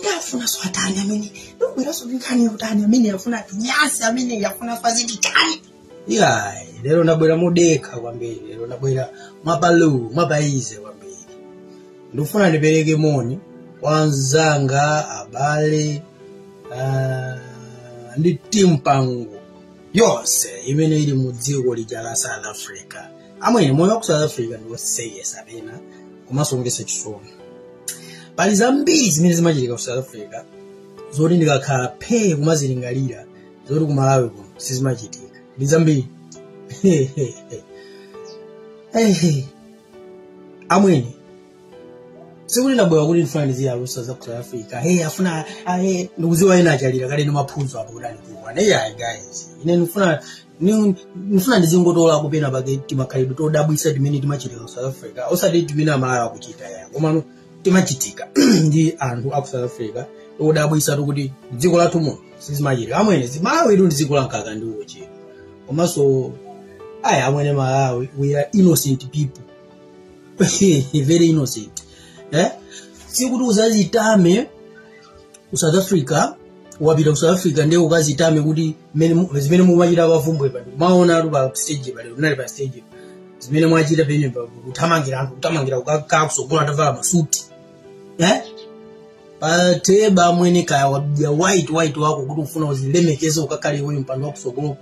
ndafuna swatani amene ndikubweranso ndi nkhani yotani amene yafuna nyasi amene yafuna faziti tani iyayi lero ndabwera modekha kwambiri lero ndabwera mwapalu mwapaize kwambiri ndikufuna ndipereke moni kwa anzanga abale ah, ndi mipingo yonse imene ili mu dziko lija la south africa amwene moyo wa ku south africa ndi wosekesa pena komanso womvetsa chisoni pali zambiri zimene zimachitika ku south africa zoti ndikakhala phee kumazilingalira zoti ku malawi kuno sizimachitika ndi zambiri amwene sikuti ndabwera kuti ndifuna ndiziyalusa za ku south africa hey afuna ah, hey, ndikuziwa ena achalira kale ndi maphunzo apo kuti andikuwa neya guys ine ndifuna ni- ndifuna ndizingotola penapake timakhalidwe todabwisa timene timachitika ku south africa osati timene amalawi akuchita ya komano timachitika ndi anthu aku south africa todabwisa toti dziko lathu muno sizimachitika amwene malawitu ndi dziko lamkaka ndi uchi komanso ayi amwene malawi we are innocent people very innocent eh? sikuti uzazitame ku south africa wapita ku south africa ndiye ukazitame kuti mmene mu- zimene mumachita pa bvumbwe pano maona anthu pa stage paja unali pa stage zimene mwachita penye pa kuthamangira anthu kuthamangira kukakhala kusogolo atavala masuti eh? pateba amwene kaya wabaya white white wako kuti ufuna uzilemekeze ukakhale iweyo mpando wakusogolo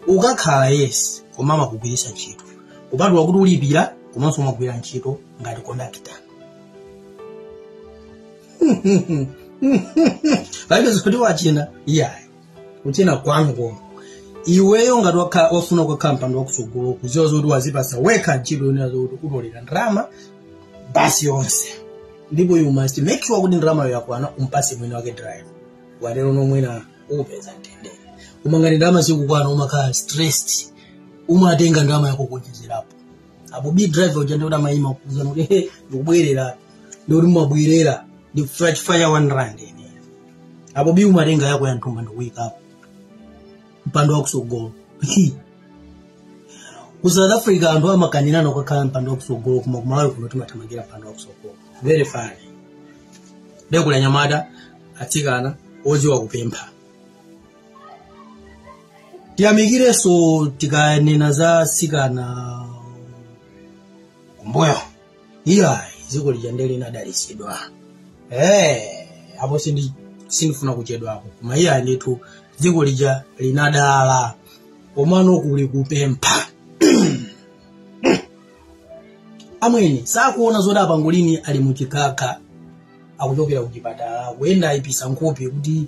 ukakhala yes koma amakugwiritsa ntchito kupatula kuti ulipira komanso umagwira ntchito ngati kondakita palibe zoti watchena iyayi kutchena kwanu koma iweyo ngati wakha- wafuna kukhala mpando wakutsogolo kuziwa zoti wazipasa wekha ntchito yonena zoti utolera ndalama basi yonse ndipo you must make sure kuti ndalamayo yakwana umpase mwini wake driver watero ndiye mwina upeza mtendere koma ngati ndalama sikukwana umakhala stressed umatenga ndalama yako kuonjezerapo apo bi driver uja ndiye amaima kuzanena kuti he ndikubwerera ndikuti mumabwerera ndikufuna chifukwa cha one rand ine apo bi umatenga yako ya mthumba ndikuyikapo mpando wakusogolo ku south africa anthu amakanirana kukakhala mpando wakusogolo koma kumalawi kuno timathamangira mpando wakusogolo very funny nde kuli anyamata atsikana oziwa kupempha tiyamikirenso tikanena za atsikana kumbuyo iyayi dziko lija nde linadalitsidwa eh apo sindi sindifuna kuchedwapo koma iyayi ndithu dziko lija linadala komano kuli kupempha amwene sakuona zoti apangolini ali muchikhakha akuchokera kuchipatala kuyenda ayipisa nkhope kuti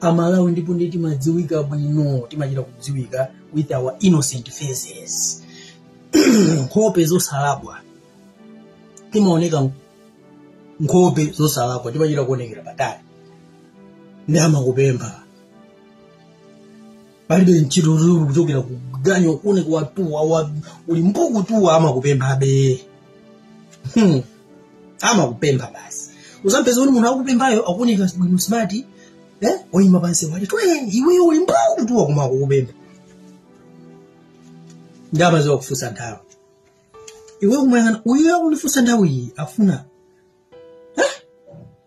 amalawi ndipo ndiye timadziwika bwino timachita kudziwika with our innocent faces nkhope zosalakwa timaoneka nkhope zosalakwa timachita kuonekera patali ndi amakupempha palibe ntchito zoti ukuchokera ku ganyo ukuoneka watuwa uli mbuu kutuwa amakupemphabe hmm. amakupempha basi uzampeza kuti munthu akupemphayo akuoneka bwino smart eh? oyima pansi wati twe iweyo uli mbuu kutuwa koma akukupempha ndi amaziwa kufunsa nthawi iwe kumuyang'ana uyo akundifunsa nthawi iyi afuna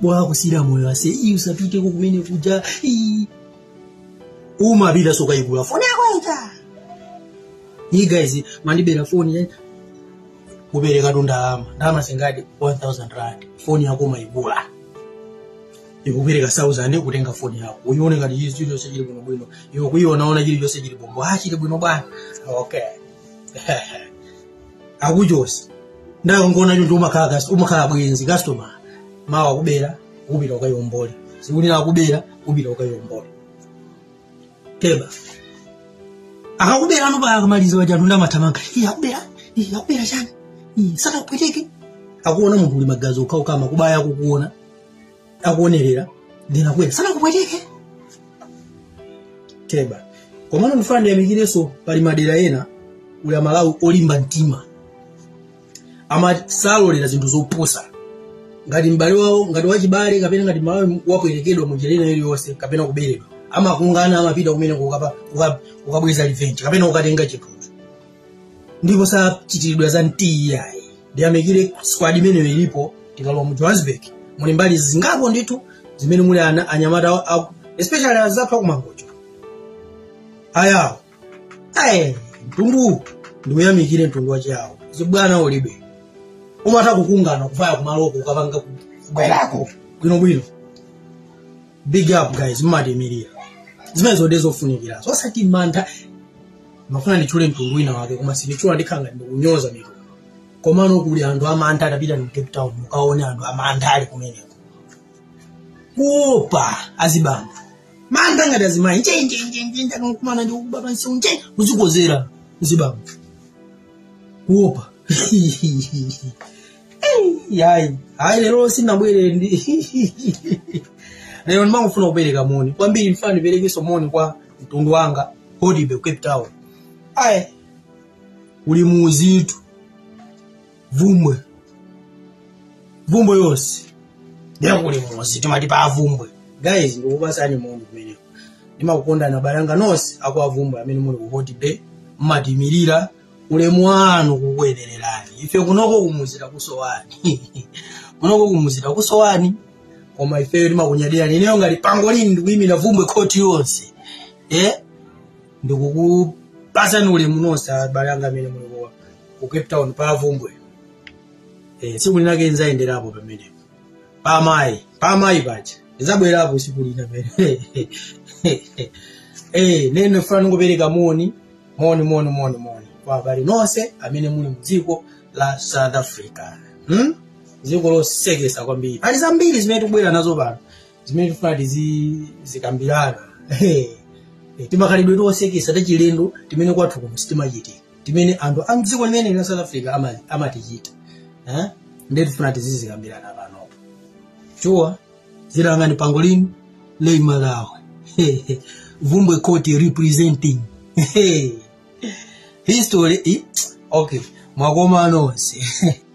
bwa kusira moyo ase iyi usapiteko kumene kuja iyi umapitanso kukayigula foni yako ija iyi guys mwandibera foni eh? kuperekatu ndalama ndalama zingati 1000 rand foni yako umaigula ukupereka 1000 kutenga foni yako uyione ngati izi chilichonse chili bwino bwino iwe kuyiona ona chilichonse chili bho bho ah chili bwino bwana okay akuchosa ndangoona choncho umakhala cus- umakhala bwenzi customer mawa akubera kupita ukayombole tsiku lina akubera kupita ukayombole keba akakubera ano mpaka akamaliza paja anthu nde amathamanga iye akubera iye akubera chani iye sakapweteke akuona munthu uli magazi okhaokha amakubaya akukuona akuonerera ndinakwera sanakupweteke teba komano ndifuna ndiyamikirenso pali madera ena kuli amalawi olimba mtima ama salolera zinthu zopusa ngati m'bale wawo ngati wachibale kapena ngati mmalawi wapwetekedwa mu njira ina iliyonse kapena kuberedwa amakungana amapita kumene kukapa- kuka- kukabweza revenge kapena kukatenga chinthucho ndipo sachitiridwa za mtii iyayi ndiyamikire squad imeneyo ilipo tikalowa mu johannesburg muli mbali zingapo ndithu zimene muli ana anyamata awo- awo- especially anzathu aku mangochi ayawo ayi mtundu ndiuyamikire mtundu wachiyawo zibwana ulibe umatha kukungana kuvaya kumaloko kukapanga kubwerako bwinobwino big up guys mmatimirira zimenezo nde zofunikira zosati mantha mafuna nditchule mtundu wina wake koma sindimutchula ndikhala ngati ndikunyoza mitundu komano kuli anthu amantha atapita mu cape town mukaone anthu amantha ali kumeneko kuopa azibambo mantha ngati azimayi njenjenjenje akakumana ndi kuba basi nje kuzikozera azibambo kuopa iyayi ayi lero sinabwere nde lero ndimangofuna kupereka moni kwambiri ndifuna ndiperekenso moni kwa mtundu wanga hodibe cape town ayi kuli muzitu vumbwe vumbwe yonse nde kuli muzi timati pa vumbwe guys ndikupasani moni kumeneko ndimakukondani abale anga nonse akwa vumbwe amene muli ku hodibe mmatimirira ulemu wanu kukuyenererani ife kuno kumuzi takusowani kuno kumuzi takusowani koma ifeyo timakunyadirani ineyo ngati pangolini ndikuyimira vumbwe khoti yonse eh? ndikukupasani ulemu nonse abale anga amene muli ku- ku cape town pa vumbwe eh, tsiku linake nzayenderapo pamenepo pa amayi pa amayi patcha ndizabwerapo tsiku lina pene eh nene ndifuna ndingopereka moni moni moni moni moni kwa abale nonse amene muli mdziko la south africa hmm? dziko losekesa kwambiri pali zambiri zimene tikubwera nazo pano zimene tifuna tizizikambirana timakhalidwe tosekesa tachilendo timene kwathu kuno sitimachitika timene anthu a mdziko limeneli la south africa ama- amatichita eh? ndiye tifuna tizizikambirana panopo shuwa zina langa ndi pangolin lei malawe vumbwe khoti representing history eh? okay mwakoma nonse